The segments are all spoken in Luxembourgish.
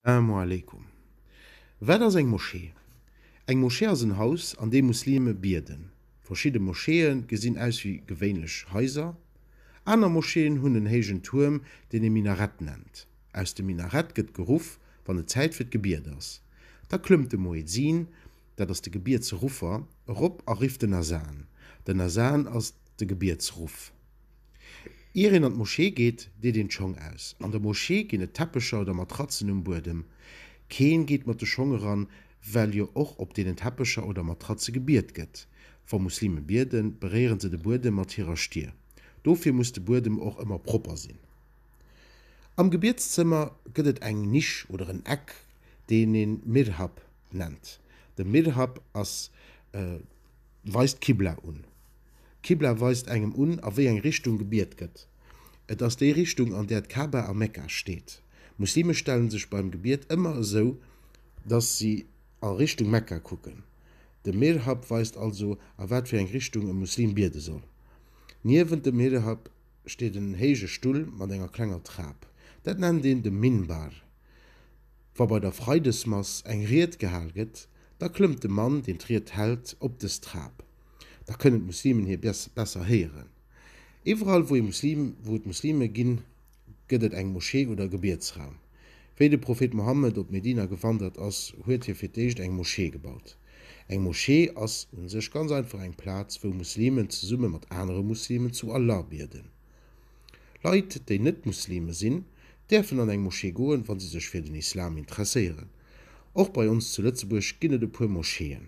Salamu aleykum. Wat ass eng Moschee? Eng Moschee ass en Haus an deem Muslime bieden. Verschidde Moscheeë gesinn aus wéi gewéinlech Haiser. Aner Moscheeën hunn en héijen Tuerm, deen ee Minarett nennt. Aus dem Minarett gëtt geruff, wann et Zäit fir d'Gebiet ass. Da klëmmt de Muezzin, dat ass de Gebietsruffer, erop a rifft den Azan. Den Azan ass de Gebietsruff. Ier een an d'Moschee geet, deet een d'Schong aus. An der Moschee ginn et Teppecher oder Matratzen um Buedem. Keen geet mat de Schong eran, well jo och op deenen Teppecher oder Matratze gebiet gëtt. Wa Muslime bieden, beréieren se de Buedem mat hirer Stier. Dofir muss de Buedem och ëmmer propper sinn. Am Gebietszëmmer gëtt et eng Nisch oder en Eck, deen een Mirhab nennt. De Mirhab ass e. Weist d'Qibla un. D'Qibla weist engem un, a wéi eng Richtung gebiet gëtt. Et ass déi Richtung, an där d'Ka'ba a Mekka steet. Muslime stellen sech beim Gebiet ëmmer esou, dass si a Richtung Mekka kucken. De Mihrhab weist also, a wat fir eng Richtung e Muslim biede soll. Niewent dem Mihrhab steet en héije Stull mat enger klenger Trap. Dat nennt een de Minbar. Wa bei der Freidesmass eng Ried gehal gëtt, da klëmmt de Mann, deen d'Ried hält, op dës Trap. Da kënnen d'Muslimen hie besser héieren. Iwwerall, wou et Muslime ginn, gëtt et eng Moschee oder e Gebietsraum. Wéi de Prophet Mohammed op Medina gewandert ass, huet hie fir d'éischt eng Moschee gebaut. Eng Moschee ass un sech ganz einfach eng Plaz, wou Muslimen zesumme mat anere Muslimen zu Allah bieden. Leit, déi net Muslime sinn, däerfen an eng Moschee goen, wa se sech fir den Islam interesséieren. Och bei ons zu Lëtzebuerg ginn et e puer Moscheeën.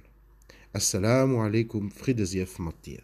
As-Salaamu alaikum, Fridde sief mat dir.